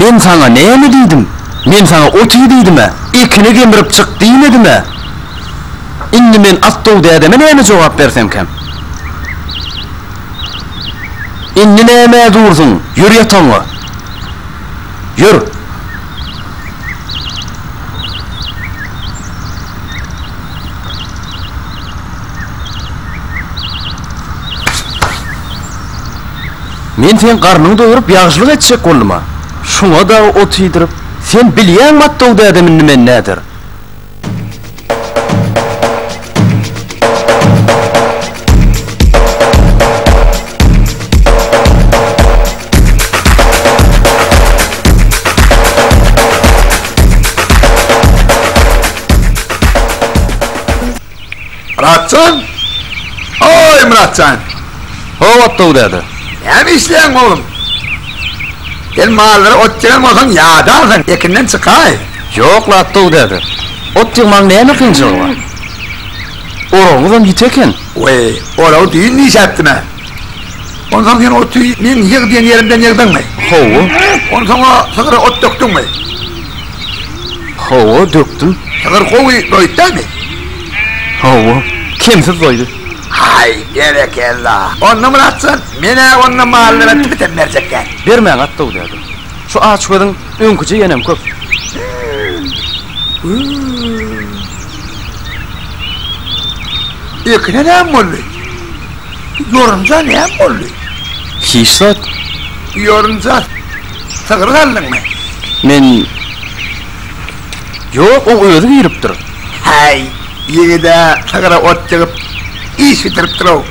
Men saňa näme diýdim? Men saňa ot iý diýdim-ä, ekini gemirip çyk diýmedim-ä. Indi men Atdow dädeme näme jogap bersemkäm? Indi nämä dursuň, ýör ýatagyňa! Ýör! Men seň garnyňy doýuryp ýagşylyk etjek boldum-a. Şuňa dagy ot iýdirip, sen bilýäňmi atdaw dädemiň nimen näder? Muratjan? Oy Muratjan. Howat dog däde. Näme işleýäň oglum? Sen mallara ot ýygan bolsaň ýadarsyň, ekinden çykaý. Ýok lat dog däde. Ot ýygmagyň näme kynçylygy bar? Oragyňyzam ýiti eken. Weý, oragy düýn dişäpdim-ä. Onsoň sen oty meň ýyg diýen ýerimden ýygdyňmy? Hawa. Onsoň o sygyra ot dökdüňmi? Hawa, dökdüm. Sygyr gowy doýupdamy? Hawa, kemsiz doýdy. Haý, berekella! Onda Myratjan, men-ä onda mallary bitem berjek däl. Bermäň, at-dow däde. Şu açgözüň öňküje ýenem köp. Hü-ü-ü! Ekine näme boldy? Ýorunja näme boldy? Hiç zat. Ýorunja, sygyr galdyňmy? Men Ýok, oň özi giripdir. Häý, ýigid-ä sygyra ot ýygyp, iş bitiripdir-ow.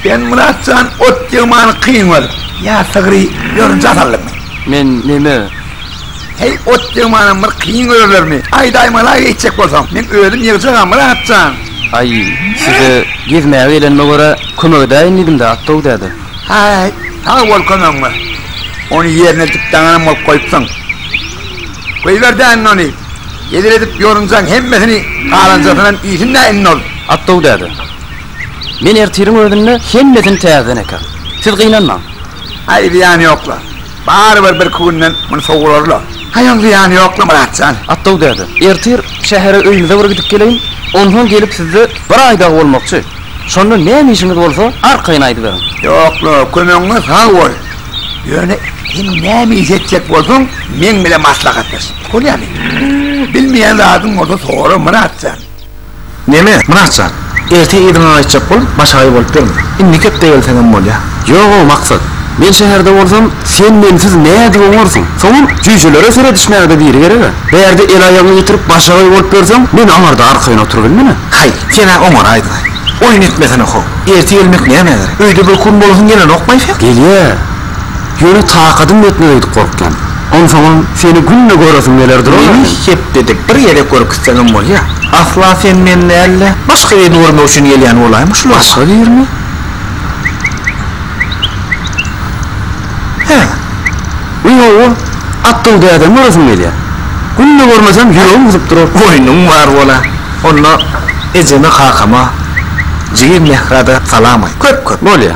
Sen, Myrat jan, ot ýygmany kyn görüp, ýa sygry ýorunja saldyňmy? Men näme? Heý, ot deň manam bir kyn özlerimi. Aýdaýmala geýtjek bolsaň, men özüm ýygjagam, Myrat jan. Aý, size gezmäge gelenime görä, kömek edäýin diýdim-dä, Atdow däde. Häý, sag bol kömegiňe. Ony ýerine dikip daňanam bolup goýupsyň. Goýber däinde ony. Hezil edip ýorunjaň hemmesini galanjasynam iýsin-dä indi ol. Atdow däde, men ertiriň özünde hemmesini täzeden ekerin. Siz gynanmaň. Aý, zyýany ýok-la. Barybir birki günden muny sowurarlar. Haýaň zyýany ýokla Myrat jan. Atdaw däde, ertir şähere öýüňize bir gidip geleýin, onsoň gelip sizde bir aý dagy bolmakçy. Şonda näme işiňiz bolsa arkaýyn aýdyberiň. Ýokla, kömegiňe sag bol. Ýöne sen näme iş etjek bolsaň, meň bilen maslahatlaş. Bolýamy? Bilmeýän zadyň bolsa sora Myrat jan. Neme, Myratjan, erte yzyňa gaýtjak bolup, başagaý bolup ýörmüň. Indiki hepde gelseňem bolýar. Ýog-ow, Maksat. Men şäherde bolsam, sen mensiz nädip oňarsyň? Soňam jüýjelere seredişmäge-de biri gereg-ä. Bärde el-aýagyňy ýitirip, başagaý bolup ýörseň, men aňarda arkaýyn oturybilmen-ä. Haý, sen-ä oňaraýdyň-aý. Oýun etmesene-how. Erte gelmek nämä gerek? Öýde bir gün bolasyň gelenok baýsam. Gelýär. Ýöne takadym ýetmez öýdüp gorkýan. Onsoňam seni günde göresim geler durar Meni eken. hepdede bir gezek görküzseňem bolýa. Asla sen meni däl-de, başga birini görmek üçin gelýän bolaýma şul oba. Başga birini? Hä. Bu ýowa Atdygy dädemi göresim gelýä. Günde görmesem ýüregim gysyp durar. Oýnuň bar bola. Onda ejeme kakama, jigim Mährä-de salam aýt. Köp köp. Bolýa.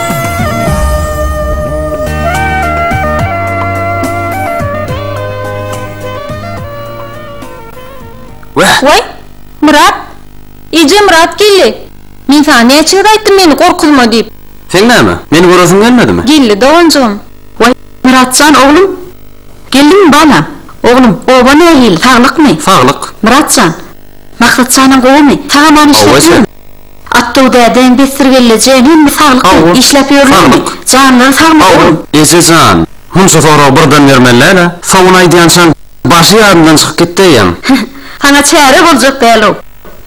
Wah! Waý, Myrat! Eje, Myrat geldi! Men saňa näçe gezek aýtdym meni gorkuzma diýip. Seň näme, meni göresiň gelmedimi? Geldi, doganjygym. Waý, Myrat jan oglum! Geldiňmi, balam? Oglum, oba nähili, saglykmy? Saglyk. Myrat jan, Maksat janyň gowumy? Saňa näme işletýärin? Atdöw dädäň bessirgelleje hemme saglyk işläp ýörlermi? Janlary sagmy ogul? Eje jan, hum şu soragy birden bermelläl-ä. Sowun aýdýançan başy ýadyndan çykyp gitdi eýýäm. Saňa çäre boljak däl-ow.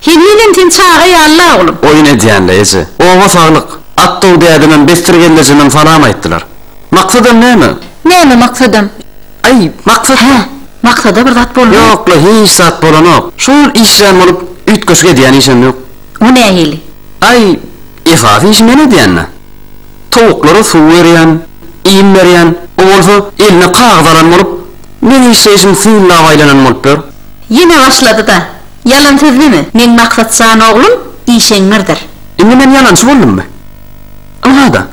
Henizem sen çaga ýaly-la oglum. Oýun edýän-le eje. Oba saglyk. Atdöw dädemem bessirgellejenem salam aýtdylar. Maksadam näme? Näme maksadam? Aý, Maksat! Hä, Maksada bir zat boldumy? Ýok-la, hiç zat bolanok. Şol işjeň bolup, üýtgeşik edýän işem ýok. O nähili? Aý, esasy işi men edýän-dä. Towuklara suw berýän, iým berýän. O bolsa eline kagyz alan bolup, meň işleýşim synlap aýlanan bolup ýör. Ýene başlady-da. Ýalan sözleme. Meň Maksat jan oglum işeňňirdir. Indi men ýalançy boldummy? Ynha-da,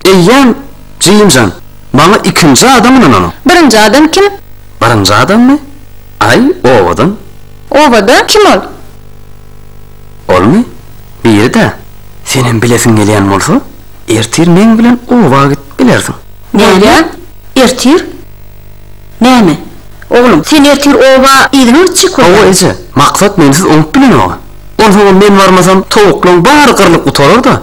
eýýäm Jim jan. Maňa ikinji adam ynananok. Birinji adam kim? Birinji adammy? Aý, owadan. Owadan? Kim ol? Olmy? Biri-dä. Senem bilesiň gelýän bolsa, ertir meň bilen oba gidip bilersiň. Näme? Ertir? Näme? Oglum, sen ertir oba yzyňa gitjek bolýaň. Hawa, eje. Maksat mensiz oňup bilenok-a. Onsoňam men barmasam, towuklaň bary gyrlyp gutarar-da.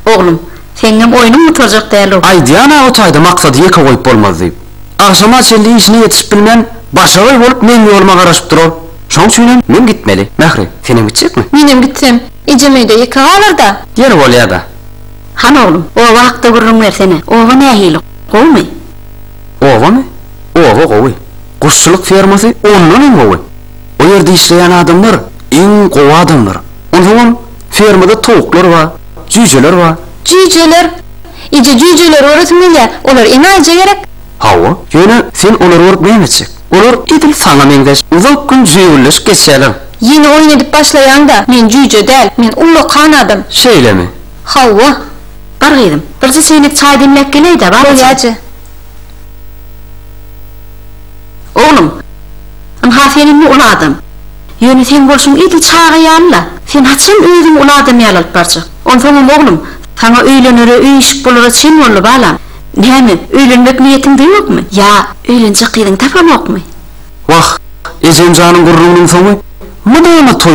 Oglum. Seňňem oýnuň gutarjak däl-ow. Aý Diana o taýda maksady ýeke goýup bolmazdy. Agşama çenli işine ýetişip bilmän, başagaý bolup meň ýoluma garaşyp durar. Şoň üçinem men gitmeli. Mähri, senem gitjekmi? Menem gitsem, ejem öýde ýeke galar-da. Ýeri bolýa-da. Hany oglum, oba hakda gürrüň bersene. Oba nähili, gowumy? Obamy? Oba gowy. Guşçulyk fermasy ondan hem gowy. O ýerde işleýän adamlar iň gowy adamlar. Onsoňam fermada towuklar bar, jüýjeler bar. Jüýjeler? Eje, jüýjeleri göresim gelýär. Olar enaýyja gerek? Hawa. Ýöne sen olary görüp näme etjek? Olar edil saňa meňzeş. Uzak gün jüýgülleşip geçýärler. Ýene oýun edip başlaýaň-da. Men jüýje däl. Men ullakan adam. Şeýlemi? Hawa. Bar gyzym, birje çeýnek çaý demläp geleý-dä, bar ejem. Bolýar, eje. Oglum, ynha sen indi uly adam. Ýöne seň bolşuň edil çaga ýaly-la. Sen haçan özüňi uly adam ýaly alyp barjak? Onsoňam, oglum, saňa öýlenere, öýüşip bolara çen boldy, balam. Näme, öýlenmek niýetiňde ýokmy? Ýa, öýlenjek gyzyňy tapamokmy? Wah, ejem janyň gürrüňiniň soňy mydama toý!